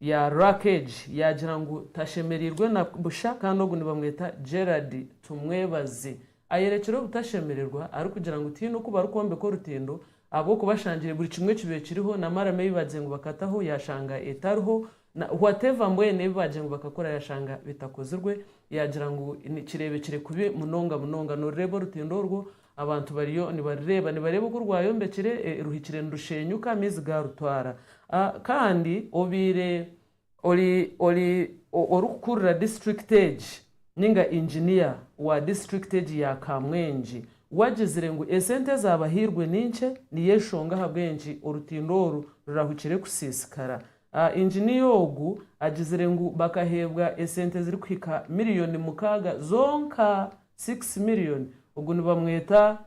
ya RAC egi yaagira ngu tashemereirwe na busha kandi ogu nibamweta Gerald Tumwebaze. Ayerekire obutashemererwa arikugira ngu tihaine oku barikwombeka orutindo ahabw'okuba ashangire buri kimwe ekibekiriho na maramu ei baagize ngu bakataho yaashanga etariho Na whatever mbwenu ebi baagira ngu bakakora yashanga bitakozirwe, yaagira ngu nikireebekire kubi munonga munonga. Norireeba orutindo orwo abantu bariyo nibarireeba. Nibareeba oku rwayombekire, e, ruhikire nirusheenyuka, amaizi gaarutwara. A, kandi obaire ori, ori, o, orikukurira disiturikiti egi, nainga inginiya wa disiturikiti egi ya Kamwengi, wagizire ngu esente ezaabahairwe ni nkye, niyo enshonga ahabw'enki orutindo oru rurahukire kusiisikara. Inginiya ogu agizire ngu bakaheebwa esente ezirikuhika miriyoni mukaaga zonka, six million. Ogu nibamweta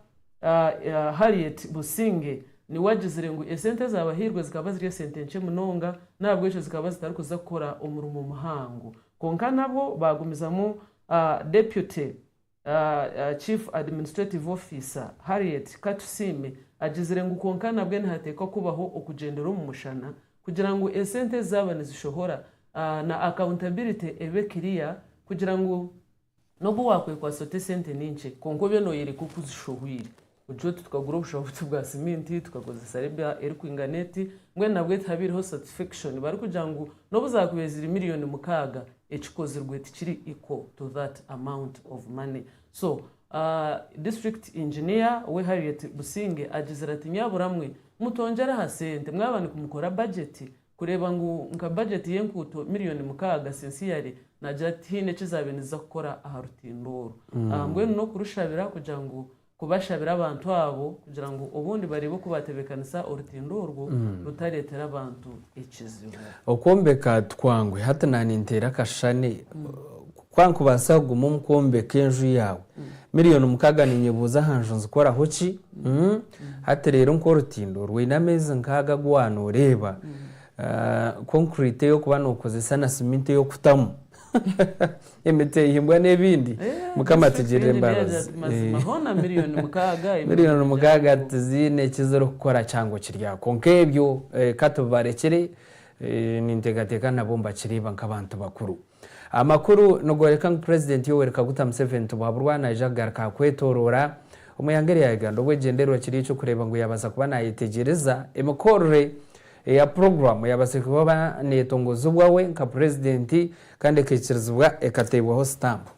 Harriet Businge niwe agizire ngu esente ezaabahairwe zikaba ziri esente nkye munonga n'ahabw'ekyo zikaba zitarikuza kukora omurimo muhango. Kwonka nabwo baagumizamu Deputy Chief Administrative Officer, Harriet Katusiime agizire ngu kwonka nabwe nihateekwa kubaho okugyendera omu mushana kugira ngu esente ezi zaaba nizishohora na accountability ebe kiriya kugira ngu n'obu waakwekwatsa ota esente ni nkye kwonka obe nooyoreka oku ozishohweire. Butyo tukagura obushaho buto bwa siminti, tukakozesa rebia erikwinga neti, mbwenu nabwe tihabaireho satisfection. Barikugira ngu nobu zakubaire ziri million mukaaga, ekikozirwe tikiri equal to that amount of money. So district engineer we Harriet Businge agizire ati nyaburamwe mutongyere aha sente mwaba nikumukora budget kureeba ngu nka bajeti y'enkuuto miriyoni mukaaga sensiyare naagira ati haine eki zaabaire niziza kukora aha rutindo orwo. Mbwenu n'okurushabira kugira ngu kubashabira abantu abo kugira ngu obundi bareebe oku baatebeekanisa orutindo orwo rutareetera abantu ekizibu. Okwombeka tikwangu, hati naaninteera akashushani Ku ankubaasa kuguma omu kwombeka enju yaawe miriyoni mukaaga ninyebuuza aha nju nzikoraho ki? Hati reero nk'orutindo rwine ameezi nkaaga agu waaba nooreeba, konkuriiti ey'okuba nookozesa na siminti ey'okutamu emiti ehimbwa n'ebindi, Mukama atugirire embabazi. Miriyoni mukaaga tiziine eki zirikukora kyangu kiri aho. Kwonka ebyo ka tubibarekye, ninteekateeka nabo nibakireeba nk'abantu bakuru. Amakuru nigooreka ngu Purezidenti Yoweri Kaguta Museveni tibuhaburwa naija kugaruka aha kwetooroora omu ihanga erya Uganda obu ekigyendererwa kiri eky'okureeba ngu yaabaasa kuba naayetegyereza emikorere eya puroguraamu eyaabaasire kuba neetongozibwa we nka Purezidenti kandi ekaikirizibwa ekateebwaho sitampu.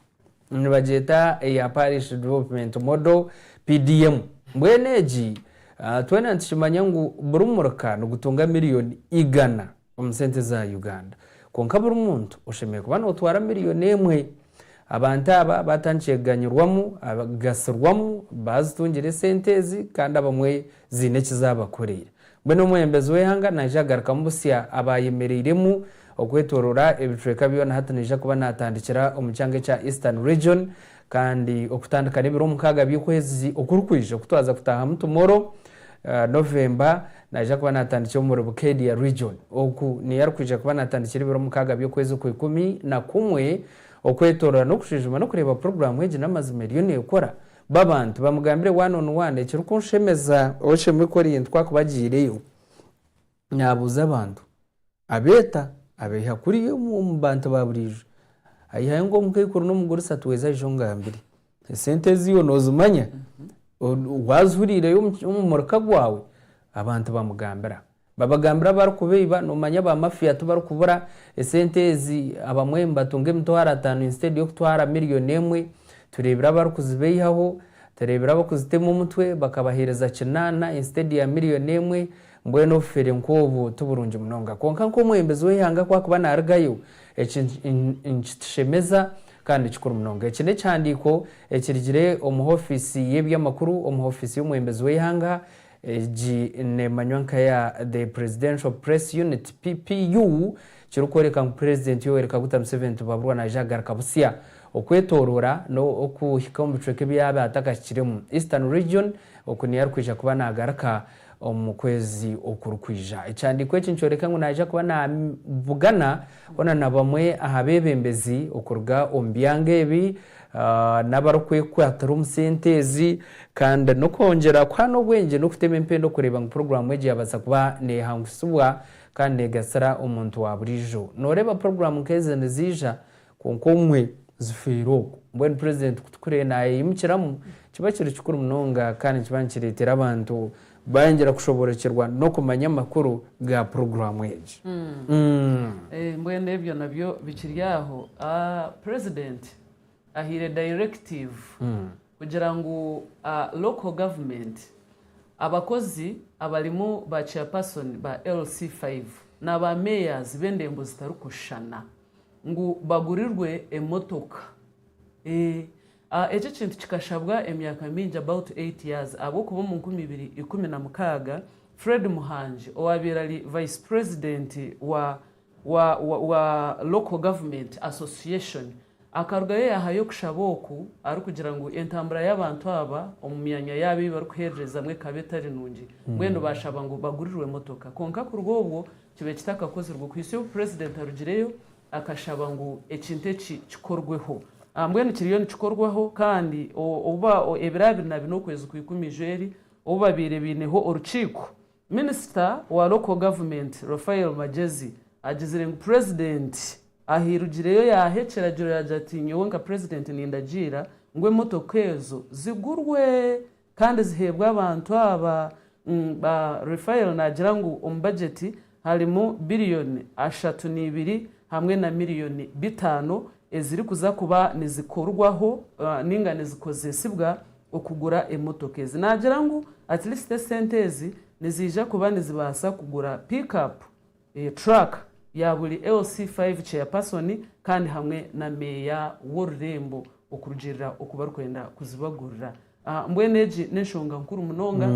Nibagyeta eya Parish Development Model, PDM. Mbwenu egi twena nitukimanya ngu buri murika nigutunga miriyoni igana. omu sente za Uganda. Kwonka buri muntu oshemereire kuba nootwara miriyoni emwe. Abantu aba baatandikire kuganyirwamu, kugasirwamu baazitungire esente ezi kandi abamwe ziine eki zaabakoreire. Mbwenu omwebembezi w'eihanga naija kugarukamu busya abaayemereiremu okwetooroora ebicweka byona hati naija kuba naatandikira omu kyanga ekya Eastern Region Kandi okutandika n'ebiro mukaaga by'okwezi okurikwija okutwaza kutaahamu tumoro, November, naija kuba naatandikira omuri Bukedea Region. Oku niyo arikwija kuba naatandikira ebiro mukaaga by'okwezi okwa ikumi na kumwe okwetoorora n'okujujuma n'okureeba puroguraamu egi n'amazima eriyo neekora. B'abantu bamugambire one on one ekirikunshemeza. Oshemerwe kworiyintu ku akubagyiireyo. Naabuuza abantu, abeeta, abaiha kuriya omu bantu ba buriijo. Aihayo nk'omukaikuru n'omugurisha tweze aije ongambire, esente eziiwe noozimanya? Waazihuriireyo omu muruka gwawe? Abantu bamugambira. Babagambira abarikubeiba, noomanya ba mafiya tibarikubura, esente ezi abamwe nibatunga emitwaro ataano instead y'okutwara miriyoni emwe. Tureebire abarikuzibeihaho, tureebire abakuzitema omutwe bakabaheereza kinaana instead ya miriyoni emwe. Mbwenu obufeere nk'obu ti burungi munonga. Kwonka nk'omwebembezi w'eihanga ku arikuba naarugayo, eki nikitushemeza kandi ni kikuru munonga. Eki n'ekihandiiko ekirugire omu ofiisi y'eby'amakuru omu ofiisi y'omwebembezi w'eihanga, egi neemanywa nka ya The Presidential Press Unit, PPU, kirikworeka ngu Purezidenti Yoweri Kaguta Museveni tibuhaburwa naija kugaruka butsya okwetooroora n'okuhika omu bicweka ebi yaabaire atakahikiremu, Eastern Region, oku niyo arikwija kuba naagaruka omu kwezi okurikwija. Ekyandiiko eki nikyoreka ngu naija kuba naabugana hoona na bamwe aha beebembezi okuruga omu byanga ebi n'abarikwekwatira omu sente ezi kandi n'okwongyera kuhaana obwengye n'okutema empenda kureeba ngu puroguraamu egi yaabaasa kuba neehangutsibwa kandi neegasira omuntu wa buriijo. Nooreeba puroguraamu nk'ezi niziija? Kwonka obumwe zifiire okwo. Mbwenu Purezidenti ku turikureeba naayeyimukiramu, kiba kiri kikuru munonga kandi nikiba nikireetera abantu baayongyera kushoboorokyerwa n'okumanya amakuru ga puroguraamu egi. Mbwenu ebyo nabyo bikiri aho, Purezidenti ahaire dayirekitiivu kugira ngu looko gavumenti, abakozi abarimu ba Chairpersoni ba LC5 na ba Meeyazi b'endembo zitarikushushana, ngu bagurirwe emotoka eeh eki ekintu kikashabwa emyaka mingi about eight years ahabw'okuba omu nkumi ibiri ikumi na mukaaga Fred Muhangi owaabaire ari Vice President wa wa wa Local Government Association akarugayo yaahayo okushaba oku arikugira ngu entambura y'abantu aba omu myanya yaabo ei barikuheererezaamu ekaba etari nungi mbwenu baashaba ngu bagurirwe emotoka kwonka kuruga obwo Kibe kitakakozirwe kuhitsya obu Purezidenti arugireyo akashaba ngu ekintu eki kikorweho. Mbwenu kiriyo nikikorwaho kandi obu ebiro abiri na bina okwezi kwa Ikumi-Ijweri obu babaire baineho orukiiko, Minisita wa Local Government, Raphael Magyezi agizire ngu Purezidenti ahirugireyo yaaha ekiragiro yaagira ati, Nyowe nka Purezidenti nindagiira ngu emotoka ezo zigurwe Kandi ziheebwe abantu aba ba Refael naagira ngu omu bajeti harimu biriyoni ashatu neibiri hamwe na miriyoni bitaano ezirikuza kuba nizikorwaho ninga nizikozesibwa okugura emotoka ezi naagira ngu at least esente ezi niziija kuba nizibaasa kugura pick up Truck ya buri LC five Chairperson kandi hamwe na Meeya w'orurembo okurugiirira oku barikwenda kuzibagurira. Mbwenu egi n'enshonga nkuru munonga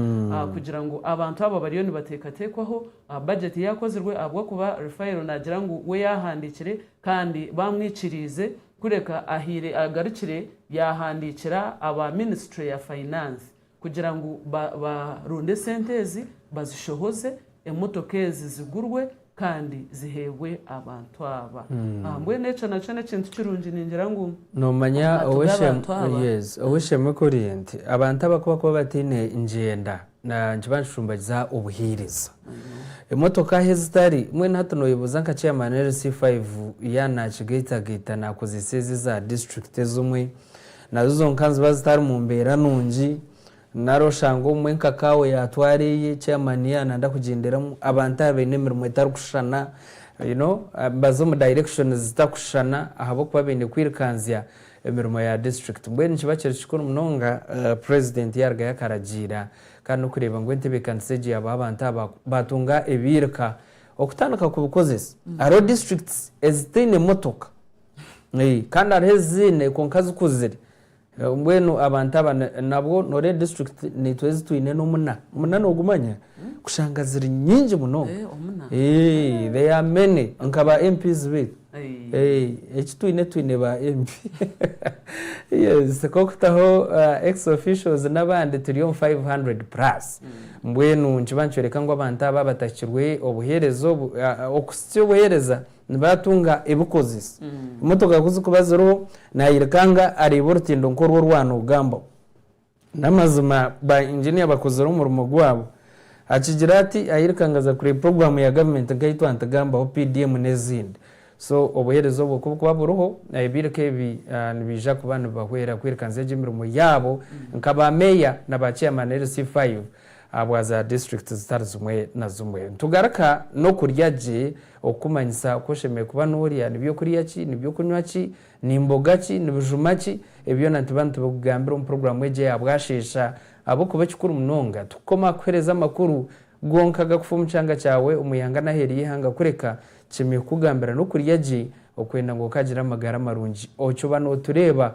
kugira ngu abantu aba bariyo nibateekateekwaho, bajeti yaakozirwe ahabw'okuba Raphael naagira ngu we yaahandiikire kandi baamwikiriize kureka ahaire agarukire yaahandiikira aba ministry ya finance. kugira ngu baronde esente ezi bazishohoze, emotoka ezi zigurwe kandi ziheebwe abantu aba. Mbwenu ekyo nakyo n'ekintu kirungi ningira ngu aha turi abantu aba. Ow'eishe-emwe kuri nti abantu aba ku bakuba bataine ngyenda nikiba nikicumbagiza obuheereza. Emotoka ahu ezitari, mbwenu hati nooyebuuza nka chairman LC5 yaaba naakigaitagaita naakozeesa ezi eza disiturikiti ezimwe, Nazo zonka niziba zitari mu mbeera nungi. Nari oshange obumwe nka kaawe yaatwara eye, chairman ye ananda kugyenderamu. Abantu aba baine emirimo etarikushushana, you know, nibaza omu directions zitakushushana ahabw'okuba baine kwirukanzya emirimo ya district. Mbwenu nikiba kiri kikuru munonga president yaarugayo akaragiira kandi n'okureeba ngu entebeekanisa egyo yaabaho abantu aba baatunga ebiiruka okutandika kubikozesa. Hariho districts ezitaine motoka. Kandi hariho eziine kwonka zikuzire. Mbwenu abantu aba nabwo noreeba district naitwe ezi twine nomuna. Omuna nogumanya? Kushanga ziri nyingi munonga. They are many nka ba MPs beitu. Eki twine twine ba MP. Yes kokutaho ex officials nabandi turi omu five hundred plus. Mbwenu nikiba nikyoreka ngu abantu aba abatahikirwe obuhereza obu. Okuhitsya obuhereza Nibatunga ebikozesa. Emotoka ku zikuba ziriho, nayirikanga areeba orutindo nk'oru orwanogambaho. N'amazima ba Engineer bakozire omurimo gwabo. Akigira ati ayirikanga aza kureeba program ya government nka eyitwantigambaho, PDM n'ezindi. So obuhereza obwo kubukuba buriho, ebirika ebi nibiija kuba nibibahwera kwirikanisa egyo emirimo yaabo nka ba Mayor na ba Chairman LC5. ahabwa za district zitari zimwe na zimwe. Nitugaruka n'okurya gye, okukumanyisa oku oshemereire kuba norya, ni by'okurya ki, ni by'okunywa ki, ni mboga ki, ni bijuma ki, ebi byona nituba nitubikugambira omu puroguramu egi eya bwasheesha ahabw'okuba ekikuru munonga tikukoma aha kukuhereza amakuru gonka agakufa omu kyanga kyawe, omu ihanga n'aheeru y'eihanga kureka tukyemeire kukugambira n'okurya gye okwenda ngu okagire amagara marungi. Okyo ba notureeba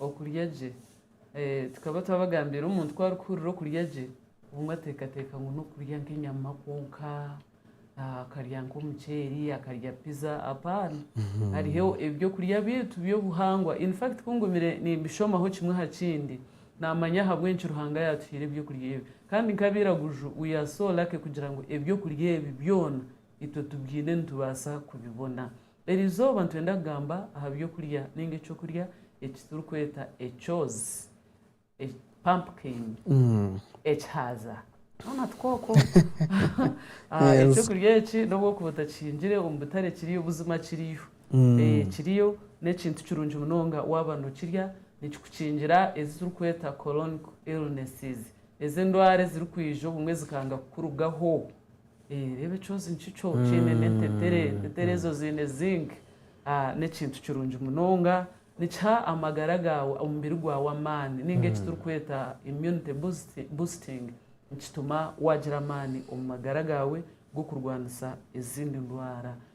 Okurya gye. Tukaba twabagambiire omuntu ku arikuhurira okurya gye, obumwe ateekateeka ngu n'okurya nk'enyama kwonka, akarya nk'omuceeri, akarya piza. Apaana! Hariho eby'okurya byaitu by'obuhangwa. In fact ku ngumire nimbishomaho kimwe aha kindi, naamanya ahabw'enki Ruhanga yaatuhaire eby'okurya ebi. Kandi nk'abairaguju, we are so lucky kugira ngu eby'okurya ebi byona itwe tubyine nitubaasa kubibona. Eri izooba nitwenda kugamba aha by'okurya ninga eky'okurya eki turikweta ekyozi, pumpkin, ekihaaza, twona twoko. Eky'okurya eki n'obu orikuba otakihingire omu butare kiriyo, buzima kiriyo. Kiriyo, n'ekintu kirungi munonga waaba nookirya, nikikukingira ezi turikweta colonic illnesses, ezi endwara ezirikwija obumwe zikanga kukurugaho. Reeba ekyozi nikikyo kiine n'entetere. Entetere ezo ziine Zinc. Ni ekintu kirungi munonga. Nikiha amagara gaawe, omubiri gwawe amaani nainga eki turikweta immunity boosting. Nikituma waagira amaani omu magara gaawe g'okurwanisa ezindi ndwara.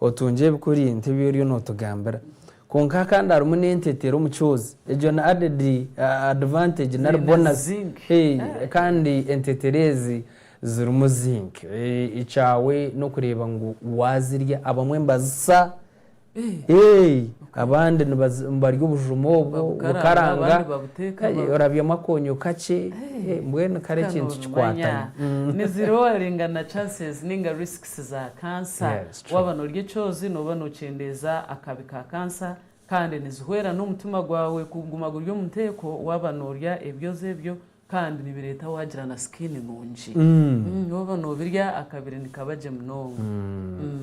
Otungye ebikuri nk'ebi oriyo nootugambira. Kwonka aha kandi harimu n'entetero omu kyozi. Egyo ni added advantage nari bonus. Kandi entetero ezi zirimu zinc. Ekyaawe n'okureeba ngu waazirya. Abamwe nibazisa, abandi nibarya obujuma obwo bukaranga, orabyamu akoonyo kakye, mbwenu kare ekintu kikwataine. Nizirooringa na chances ninga risk si za kansa. Waaba noorya ekyoozi nooba nookyendeeza akabi ka kansa kandi nizihwera n'omutima gwawe kuguma guri omu nteeko waaba noorya ebyoozi ebyo kandi nibireeta waagira na sikiini nungi. Waaba noobirya akabiri nikaba gye munonga.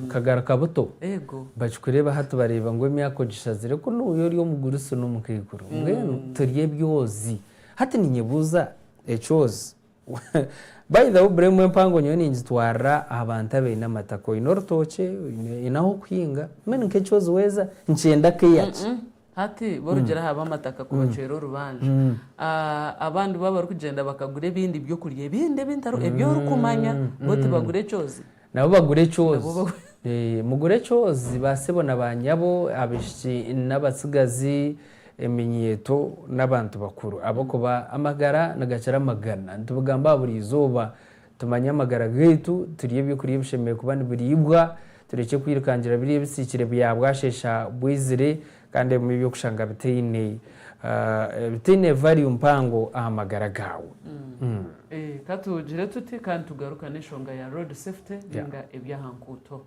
Okagaruka buto. Eego. Bakikureeba hati bareeba ngu emyaka ogishazire ku nooya ori omuguru si n'omukaikuru. Mbwenu turya ebyoozi. Hati ninyebuuza ekyoozi By the way bro emwe empango nyowe ningitwarira aha bantu abaine amataka oine orutookye oine ahu okuhinga I mean nk'ekyozi weeza nikyenda care ki? Hati b'orugyere aha b'amataka ku bacwera orubanja abandi bo abarikugyenda bakagura ebindi by'okurya ebindi ebintari eby'orikumanya bo tibagura ekyozi? Nabo bagure ekyozi. Mugure ekyozi, baasebo na baanyabo, abaishiki n'abatsigazi, eminyeeto n'abantu bakuru, ahabw'okuba amagara nigakira amagana. Nitubigamba aha buri izooba. Tumanye amagara gaitu, turye eby'okurya ebishemereire kuba nibiriibwa, turekye kwirukangira biriya ebisiikire bya bwasheesha bwaizire. Kandi ebimwe eby'okushanga bitaine bitaine value mpango aha magara gaawe. Ka tugire tuti ka nitugarukana enshonga ya road safety nainga eby'aha nkuuto.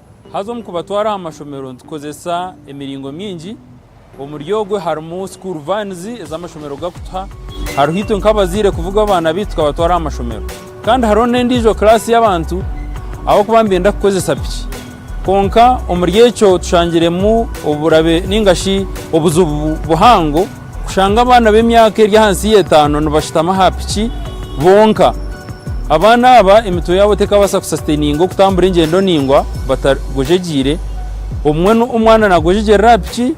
Haza omu kubatwara aha mashomero nitukozesa emiringo mingi. Omuri ogwo harimu school vans ez'amashomero gakutuha. Hariho itwe nk'abazaire kuvuga abaana baitu tukabatwara aha mashomero. Kandi hariho n'endiijo class y'abantu ahabw'okuba nibenda kukozesa piki. Kwonka omuri ekyo tushangiremu oburabe ninga shi obuzibu buhango. Kushanga abaana b'emyaka eri ahansi y'etaano nibashutama aha piki bonka. Abaana aba emitwe yaabo tekabaasa kusasitaininga okutambura engyendo ningwa batagwejegyeire. Obumwe omwana nagwejegyerera aha piki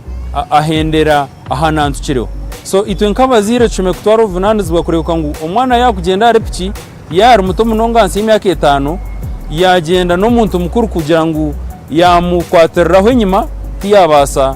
ahendera aha nantukireho. So itwe nk'abazaire tushemereire kutwara obuvunaanizibwa kureebeka ngu omwana yaakugyenda ahari piki, yaaba ari muto munonga ahansi y'emyaka etaano, yaagyenda n'omuntu mukuru kugira ngu yaamukwatiriraho enyima tiyaabaasa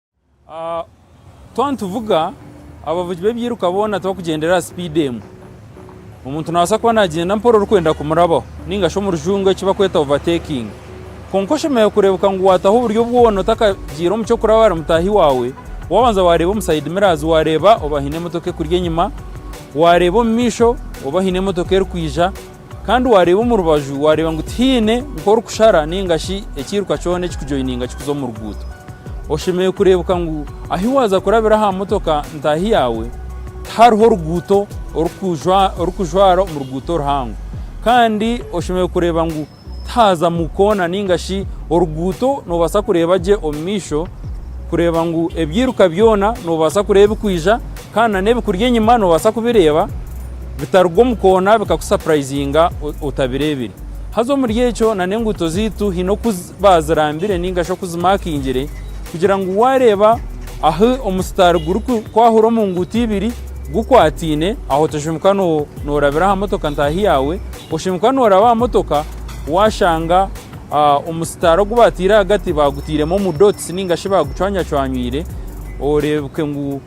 Twaba nituvuga, abavugi b'ebyiruka boona tibarikugyendera aha sipiidi emwe. Omuntu naabaasa kuba naagyenda mpora orikwenda kumurabaho nainga shi omu rujungu eki barikweta overtaking. Kwonka oshemereire kureebeka ngu waataho oburyo bwona otakagiire omu ky'okuraba ahari mutaahi waawe, waabanza waareeba omu side mirrors waareeba oba haine emotoka ekuri enyima, waareeba omu maisho oba haine emotoka erikwija. Kandi waareeba omu rubaju waareeba ngu tihaine nk'orikushara nainga shi ekiiruka kyona ekikujoininga kikuza omu ruguuto. Oshemereire kureebeka ngu ahu waaza kurabira aha motoka ntaahi yaawe tihariho ruguuto orikujwara omu ruguuto oruhango. Kandi oshemereire kureeba ngu tihaazamu koona nainga shi oruguuto noobaasa kureeba gye omu maisho kureeba ngu ebiiruka byona noobaasa kureeba ebirikwija. Kandi na n'ebikuri enyima nobaasa kubireeba bitaruga omu koona bikakusapurayizinga otabireebire. Haza omuri ekyo na n'enguuto zaitu haine oku baazirambire ninga shi oku zimaakingire kugira ngu waareeba ahu omusitaari gurikwahura omu nguuto ibiri gukwataine aho toshemeruka noorabira aha motoka ntaahi yaawe, oshemeruka nooraba aha motoka waashanga omusitaari ogu baataire ahagati baagutairemu omu dotisi ninga shi baagucwanyacwanywiire oreebeke ngu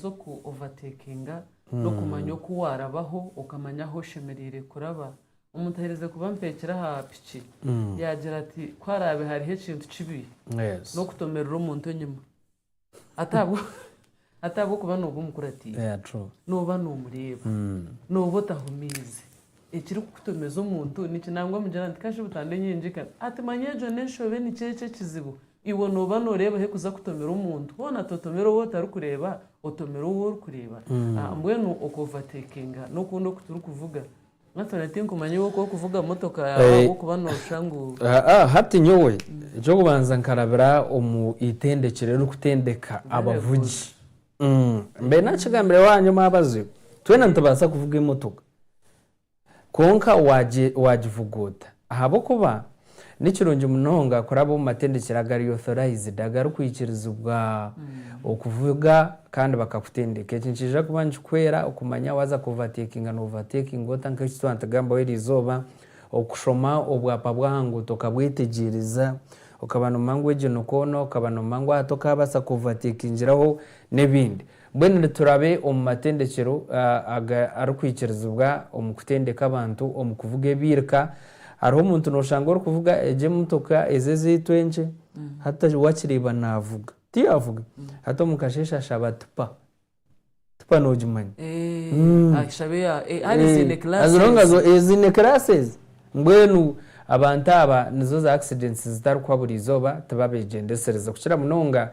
z'oku ovatekinga n'okumanya oku waarabaho okamanya ahu oshemereire kuraba. Omuntu aherize kuba mpekire aha piki yaagira ati, ku haraabe hariho ekintu kibi n'okutomerera omuntu enyima hati ahabw'okuba nooba omukuratiire, nooba noomureeba, nooba otahumiize. Ekirikukutomeza omuntu niki? Nangwa mugira nti, Kashubi tandengyengyeka. Ati, Manya egyo n'enshobe nikyo ekyo ekizibu. Iwe nooba nooreeba ahu kuza kutomera omuntu hoona totomera ou otarikureeba otomera ou orikureeba mbwenu oku overtakinga n'okundi oku turikuvuga hati na tinkumanya iwe oku orikuvuga motoka yaawe ahabw'okuba nooshusha ngu. Hati nyowe eky'okubanza nkarabira omu itendekero eririkutendeka abavugi mbaire naakigambireho aha nyowe abaziho twena nitubaasa kuvuga emotoka Kwonka waagivugwa ota? Ahabw'okuba ni kirungi munonga kuraba omu matendekyero agari authorized, agarikwikirizibwa okuvuga kandi bakakutendeka. Eki nikiija kuba nikikuhwera okumanya waaza ku overtakinga no overtakinga ota, nk'eki twaba nitugambaho eri izooba, okushoma obwapa bw'aha nguuto okabwetegyereza, okaba noomanya ngu egyo ni koona, okaba noomanya ngu aha tokaabaasa ku overtakingiraho n'ebindi. Mbwenu niturabe omu matendekyero arikwikirizibwa omu kutendeka abantu omu kuvuga ebiirka. Hariho omuntu noshanga orikuvuga egyo emotoka ezi ezaitu enkye hati wakireeba navuga tiyavuga hati omu kasheshe ashaba tipa. Tipa nogimanya? As long as ziine classes. Mbwenu abantu aba nizo za accidents zitarikuhwa buri izooba tibabeegyendeserize kukira munonga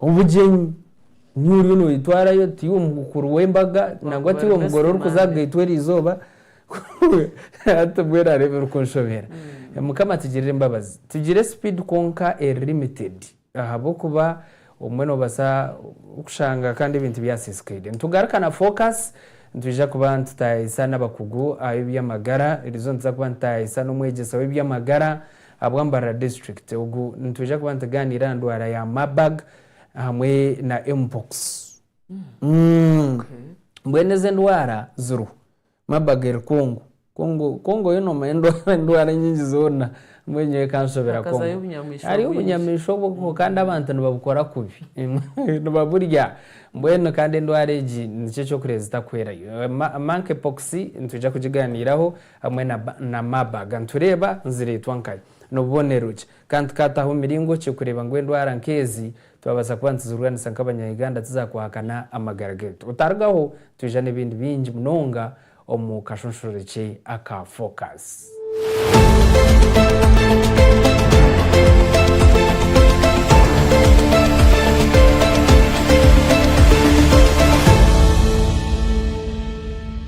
Obugyenyi, niiwe oriyo noyetwarayo, tiiwe omukuru w'embaga, nangwa tiiwe omugore orikuza kugaitwa eri izooba. Hati mbwenu hariho ebirikunshobera. Mm. Mukama atugirire embabazi. Tugire speed kwonka eri limited ahabw'okuba obumwe nobaasa kushanga kandi ebintu byasisikaire. Nitugaruka na focus, nitwija kuba nitutaayayisa n'abakugu ab'eby'amagara, eriizooba nituza kuba nitutaayayisa n'omwegyesa w'eby'amagara, Ahabwa Mbarara District ogu nitwija kuba nitugaaniira aha ndwara ya Marburg hamwe na Mpox. Mbwenu ezi endwara ziriho. Marburg eri Congo. Congo Congo yo noomanya endwara endwara nyingi zoona mbwenu nyowe ekanshobera Congo. Hakazayo obunyamaishwa Hariyo bwingi. obunyamaishwa obwo kandi abantu nibabukora kubi. Nibaburya. Mbwenu kandi endwara egi nikyo eky'okureeba zitakuhwerayo. Ma- Monkeypox nitwija kugigaaniiraho Hamwe na ba na ma baga nitureeba nizireetwa nkahi? Nobubonero ki? Kandi tukaataho miringo ki kureeba ngu endwara nk'ezi twabaasa kuba nituzirwanisa nk'abanya Uganda tizakuhakana amagara gaitu? Otarugaho twija n'ebindi bingi munonga omu kashunshurure ki aka Focus.